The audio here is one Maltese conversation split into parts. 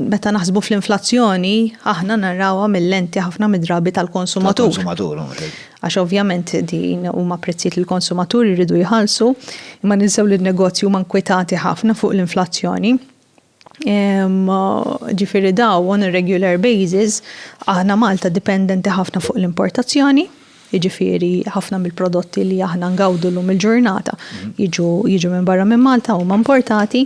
Meta naħsbu fl-inflazzjoni, aħna narawha mil-lenti ħafna mid-drabi tal-konsumatur. Tal-konsumatur, ok. Għax ovvjament din huma prezzijiet li l-konsumaturi jridu jħallsu, imma ninsew li n-negozji huma nkwetati ħafna fuq l-inflazzjoni. Ġifieri dawn on a regular basis, aħna Malta dipendenti ħafna fuq l-importazzjoni. jiġifieri ħafna mill-prodotti li aħna ngawdu llum il-ġurnata jiġu minn barra minn Malta, huma importati,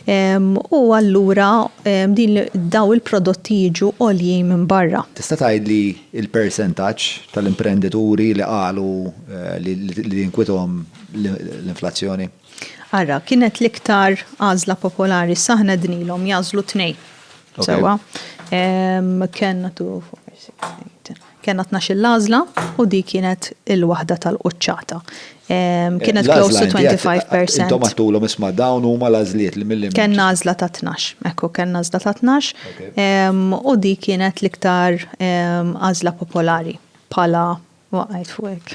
u allura dawn il-prodotti jiġu għoljin minn barra. Tista' tgħidli l-persentaġġ tal-imprendituri li qalu li tinkwithom l-inflazzjoni? Ara, kienet l-iktar għażla popolari, issa aħna għednilhom jagħżlu tnejn. Sewwa? Kellna two, four, six, eight, ten. Kellna tnax-il l-għażla u dik kienet il-waħda tal-quċċata. Kienet close to 25 percent. Intom għedtulhom isma' dawn huma l-għażliet li mill-. Kellna għażla ta' tnax. Ekku, kellna għażla ta' tnax. U dik kienet l-iktar għażla popolari bħala waqgħet fuq hekk.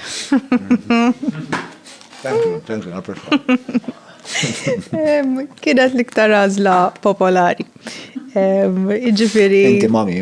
Thank you, thank you, apprezza. Kienet l-iktar għażla popolari. Jiġifieri. Inti mami,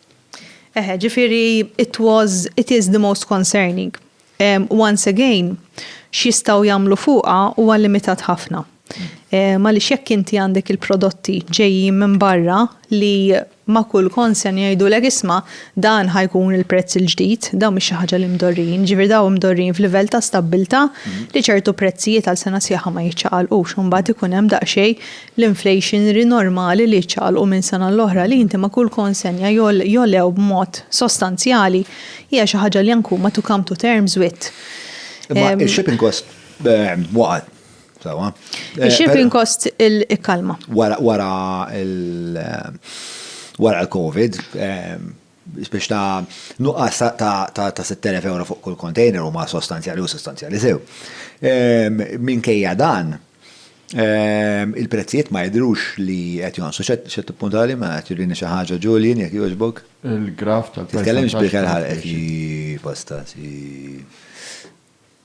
Eħe, ġifieri it was, it is the most concerning. Once again, x'jistgħu jagħmlu fuqha huwa limitat ħafna. Għaliex jekk inti għandek il-prodotti ġejjin minn barra li ma' kull concern jgħidulek isma' dan ħa jkun il-prezz il-ġdid, dawn mhix xi ħaġa li mdorrijin, ġifieri dawn imdorrijin f'livell ta' stabbiltà li ċertu prezzijiet għal sena sħiħa ma jiċċaqalqux u mbagħad ikun hemm daqsxejn l-inflationary normali li jiċċaqalqu minn sena l-oħra li inti ma' kull konsenja jogħlew b'mod sostanzjali hija xi ħaġa li anke huma to come to terms with. Imma il-shipping cost waqgħet, sewwa. Il-shipping cost ikkalma. Wara il-COVID, biex ta' nuqqas ta' 6,000 ewro fuq kull kontejner huma sostanzjali u sostanzjali sew. Minkejja dan, il-prezzijiet ma jidhrux li qed jonqsu. X'qed tippuntali? Mela qed jurini xi ħaġa Julian, jekk jogħġbok. Il-graff tal-percentaġġ tal-inflation. Titkellimx b'ikel ħalqek, hi fosta, hi.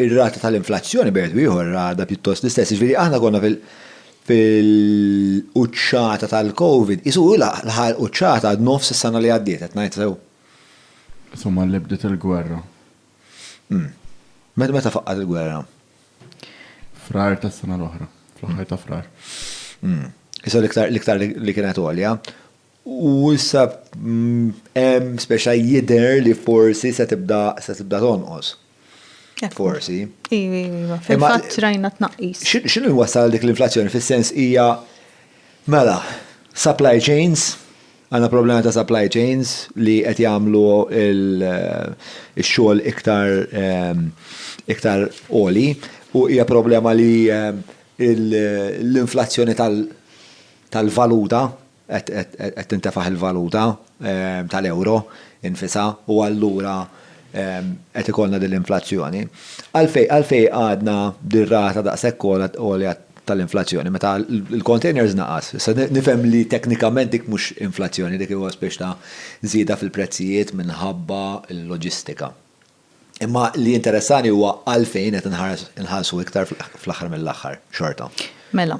ir-rata tal-inflazzjoni bejn wieħed u ieħor għadha pjuttost l-istess. Jiġifieri aħna konna fil-quċċata tal-COVID, qisu hu laħaq il-quċċata għad nofs is-sena li għaddiet, qed ngħid sew? Sa malli bdiet il-gwerra. Meta faqqgħet il-gwerra? Frar tas-sena l-oħra, fl-aħħar ta' Frar. Issa l-iktar li kienet għolja. U issa hemm speċa jidher li forsi se tibda se tibda tonqos. Forsi. Iva, iva, fil-fatt rajna tnaqqis. X'inhu jwassal dik l-inflazzjoni fis-sens hija mela supply chains, għandna problema ta' supply chains li qed jagħmlu x-xogħol iktar iktar għoli u hija problema li l-inflazzjoni tal-valuta, qed tintefaħ il-valuta tal-euro nfisha u allura qed ikollna din l-inflazzjoni. Għalfejn qagħadna bir-rata daqshekk għolja tal-inflazzjoni meta l-containers naqas? Issa nifhem li teknikament dik mhux inflazzjoni, dik huwa spiċċ ta' żieda fil-prezzijiet minħabba l-loġistika. Imma li jinteressani huwa għalfejn qed inħarsu iktar fl-aħħar mill-aħħar xorta. Mela,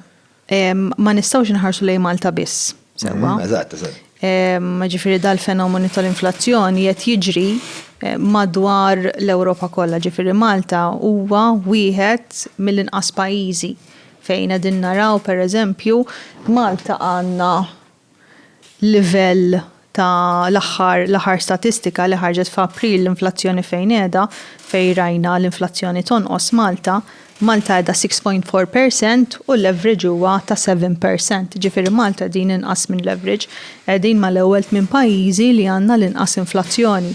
ma nistgħux inħarsu lejn Malta biss. Sewa. Mm, eżatt, eżatt. Ġifieri dal-fenomenu tal-inflazzjoni qed jiġri eh, madwar l-Ewropa kollha, ġifieri Malta huwa wieħed mill-inqas pajjiżi fejn qegħdin naraw pereżempju Malta għandna livell ta' l-aħħar l-aħħar statistika li ħarġet f'April l-inflazzjoni fejn qiegħda, fejn rajna l-inflazzjoni tonqos Malta, Malta qiegħda six point four per cent u l-average huwa ta' seven per cent. Ġifieri Malta qegħdin inqas minn l-average. Qegħdin ma' l-ewwel tmien pajjiżi li għandna l-inqas inflazzjoni.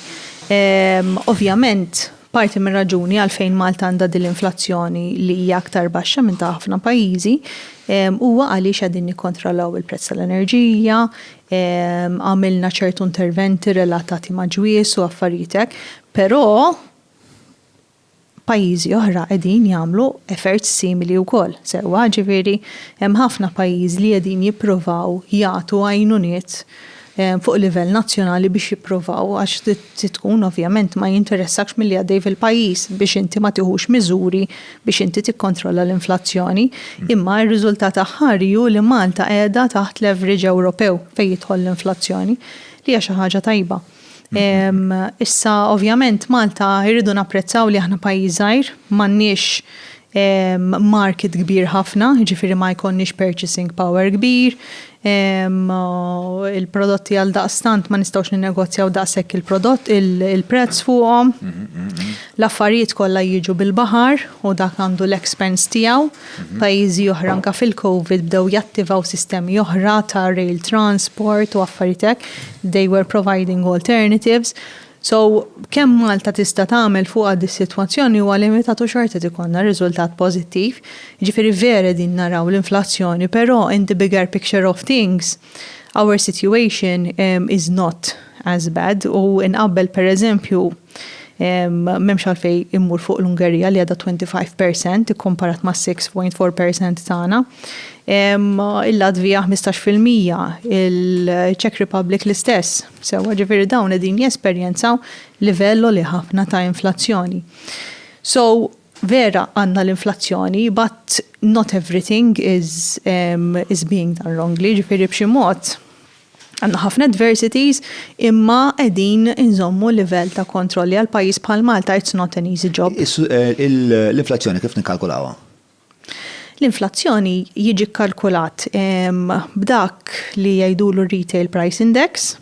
Ovvjament Parti mir-raġuni għalfejn Malta għandha din l-inflazzjoni li hija aktar baxxa minn ta' ħafna pajjiżi huwa għaliex qegħdin nikkontrollaw il-prezz tal-enerġija, għamilna ċertu interventi relatati ma' ġwież u affarijiet hekk, però pajjiżi oħra qegħdin jagħmlu efforts simili wkoll sewwa, ġifieri hemm ħafna pajjiżi li qegħdin jippruvaw jagħtu għajnuniet fuq livell nazzjonali biex jipprovaw għax trid tkun ovvjament ma jinteressakx milli għaddej fil-pajjiż biex inti ma tieħux miżuri biex inti tikkontrolla l-inflazzjoni. Mm. Imma r-riżultat aħħari hu li Malta qiegħda taħt l-average Ewropew fejn jidħol l-inflazzjoni li hija xi ħaġa tajba. Mm-hmm. Issa ovvjament Malta jridu napprezzaw li aħna pajjiż żgħir, m'għandniex market kbir ħafna, jiġifieri ma jkollniex purchasing power kbir, il-prodotti għaldaqstant ma nistgħux ninnegozjaw daqshekk il-prodott, il-prezz fuqhom. L-affarijiet kollha jiġu bil-baħar u dak għandu l-expense tiegħu. Pajjiżi oħra anke fil-COVID bdew jattivaw sistemi oħra ta' rail transport u affarijiet hekk. They were providing alternatives. So, kemm Malta tista' tagħmel fuqha dis-sitwazzjoni huwa limitat u xorta qed ikollna riżultat pożittiv. Jiġifieri vera qegħdin naraw l-inflazzjoni, però in the bigger picture of things, our situation is not as bad u inqabbel pereżempju m'hemmx għalfejn immur fuq l-Ungerija li għadha 25 per cent ikkumparat mas-6.4 per cent tagħna. Il-Latvija 15 fil-mija, il-Czech Republic l-istess. Sewwa, ġifieri dawn qegħdin jesperjenzaw livell għoli ħafna ta' inflazzjoni. So, vera għandna l-inflazzjoni, but not everything is um, is being done wrongly, ġifieri b'xi mod għandna ħafna adversities imma qegħdin inżommu livell ta' kontrolli għal pajjiż bħal Malta it's not an easy job. Eh, l-inflazzjoni kif nikkalkulawha? L-inflazzjoni jiġi kkalkulat b'dak li jgħidulu r-Retail Price Index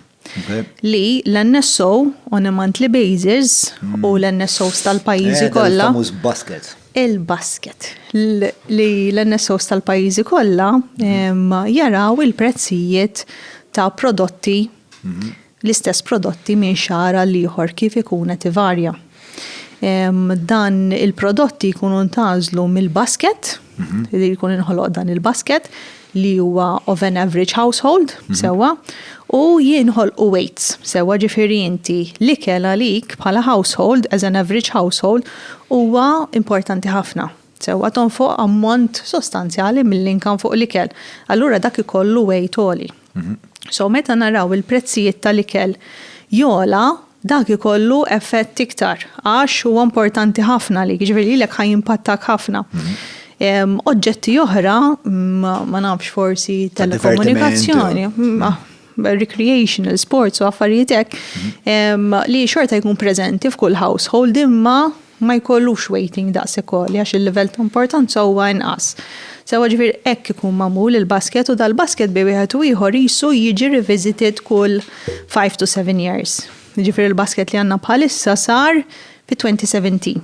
li l-NSO on a monthly basis u l-NSOs tal-pajjiżi kollha. Il-famuż basket. Il-basket. Li l-NSOs tal-pajjiżi kollha jaraw il-prezzijiet ta' prodotti l-istess prodotti minn xahar għal ieħor kif ikun qed ivarja. Dan il-prodotti jkunu ntgħażlu mill-basket, mhm. li jkun inħoloq dan il-basket, li huwa of an average household, mhm. sewa, u jinħol u weights, sewa ġifiri inti li kela lik bħala household, as an average household, huwa importanti ħafna. sewwa tonfoq ammont sostanzjali mill-income fuq l-ikel, allura dak ikollu weight għoli. So meta naraw il-prezzijiet tal-ikel jogħla, dak ikollu effett iktar għax huwa importanti ħafna għalik, jiġifieri lilek ħa jimpattak ħafna. Oġġetti oħra, ma nafx forsi telekomunikazzjoni. recreational sports u affarijiet hekk li xorta jkun preżenti f'kull household imma ma jkollux waiting daqs ikolli għax il-livell ta' importanza huwa inqas. Sewa ġifir hekk ikun magħmul il-basket u dal-basket bej wieħed u ieħor jisu jiġi revisited kull 5 to 7 years. Ġifir il-basket li għandna bħalissa sar fi 2017.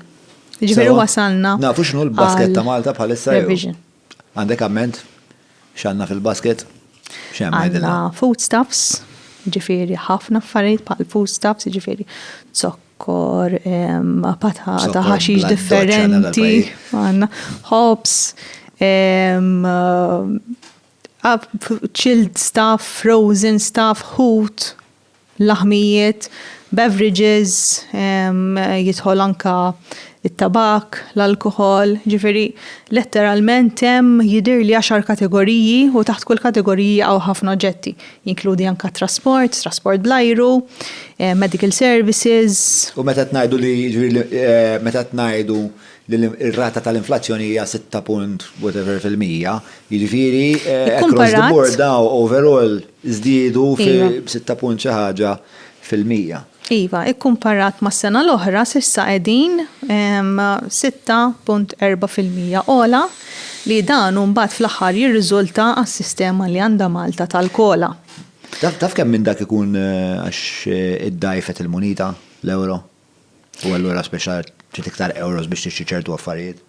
Ġifir wasalna. Nafu x'nu l-basket ta' Malta bħalissa. Revision. Għandek amment? X'għandna fil-basket? X'hemm għidilna? Għandna foodstuffs, jiġifieri ħafna affarijiet bħal foodstuffs, jiġifieri zokkor, patata, ħaxix differenti, għandna hops, chilled stuff, frozen stuff, ħut. laħmijiet, beverages, jidħol anke t-tabakk, l-alkoħol, jiġifieri letteralment hemm jidhirli għaxar kategoriji u taħt kull kategorija jaqgħu ħafna oġġetti, jinkludi anke t-trasport, trasport bl-ajru, medical services. U meta qed ngħidu li, jiġifieri meta qed ngħidu li r-rata tal-inflazzjoni hija sitta punt whatever fil-mija, jiġifieri across the board dawn overall. żdiedu fi sitta punt xi ħaġa fil-mija. Iva, ikkumparat mas-sena l-oħra, s'issa qegħdin sitta punt erba' fil-mija ogħla li dan hu mbagħad fl-aħħar jirriżulta għas-sistema li għandha Malta tal-COLA. Taf kemm minn dak ikun għax iddgħajfet il-munita, l-ewro, u allura spiċċa trid iktar ewros biex tixtri ċertu affarijiet?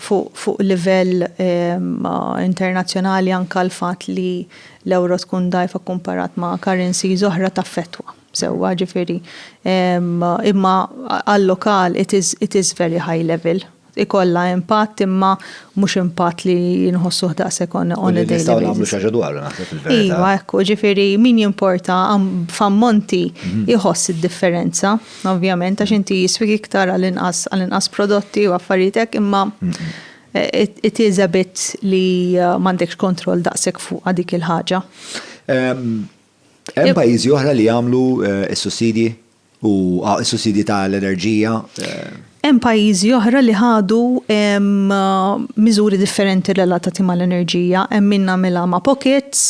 fuq livell internazzjonali anke l-fatt li l-ewro tkun dgħajfa kkumparat ma' currencies oħra taffettwa sewwa ġifieri imma għal-lokal it is it is very high level. Ikollha impatt imma mhux impatt li nħossuh daqshekk on a daily basis. U li nistgħu nagħmlu xi ħaġa dwaru naħseb fil-verità. Iva hekk hu ġifieri min jimporta f'ammonti jħoss id-differenza. Ovvjament għax inti jiswik iktar għal inqas għal inqas prodotti u affarijiet hekk imma it is a bit li m'għandekx kontroll daqshekk fuqha dik il-ħaġa. Hemm pajjiżi oħra li jagħmlu s-sussidji u s-sussidji tal-enerġija? Hemm pajjiżi oħra li ħadu miżuri differenti relatati mal-enerġija. Hemm min għamilha ma' pockets,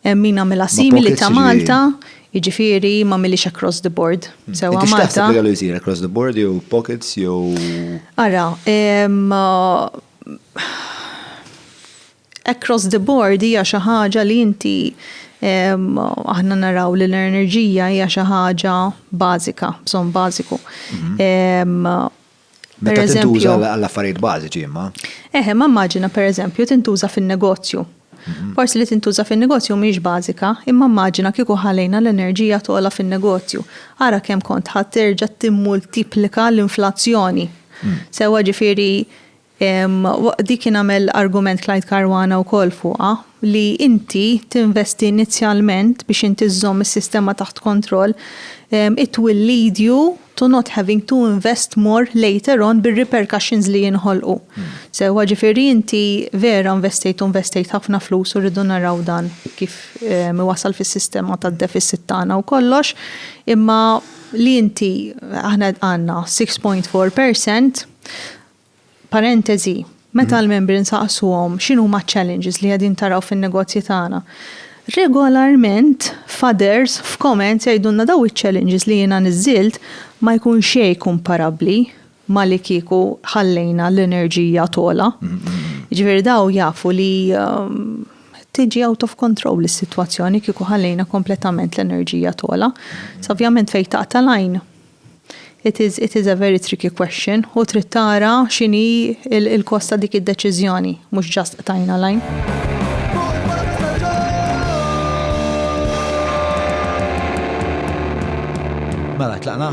hemm min għamilha simili ta' Malta. Jiġifieri m'għamilhiex across the board sewwa Malta. Inti x'taħseb li kellu jsir across the board jew pockets jew. Ara, across the board hija xi ħaġa li inti aħna naraw li l-enerġija hija xi ħaġa bażika, bżonn bażiku. Meta tintuża għall-affarijiet bażiċi imma. Eħe, ma immaġina pereżempju tintuża fin-negozju. Mhm. Forsi li tintuża fin-negozju mhix bażika, imma immaġina kieku ħalejna l-enerġija tola fin-negozju. Ara kemm kont ħadd terġa' timmultiplika l-inflazzjoni. Mm. Sewa ġifieri dik kien għamel argument Clyde Karwana wkoll fuqha li inti tinvesti inizjalment biex inti żżomm is-sistema taħt kontroll, it will lead you to not having to invest more later on bir-repercussions li jinħolqu. Sewwa ġifieri inti vera investejt u investejt ħafna flus u rridu naraw dan kif ehm, wasal fis-sistema tad-deficit tagħna u kollox, imma li inti aħna għandna 6.4% Parentesi, Meta l-membri nsaqsuhom x'inhuma ċ-challenges li qegħdin taraw fin-negozji tagħna, regolarment f'others, f'comments jgħidulna daw iċ-challenges li jiena niżżilt ma jkun xejn kumparabbli ma' li kieku ħallejna l-enerġija togħla. Jiġifieri daw jafu li tiġi out of control is-sitwazzjoni kieku ħallejna kompletament l-enerġija togħla. Sa ovvjament fejn taqta' l-għajn It is it is a very tricky question u trid tara x'inhi l-kost ta' dik id-deċiżjoni, mhux just qtajna l-għajn. Mela tlaqna?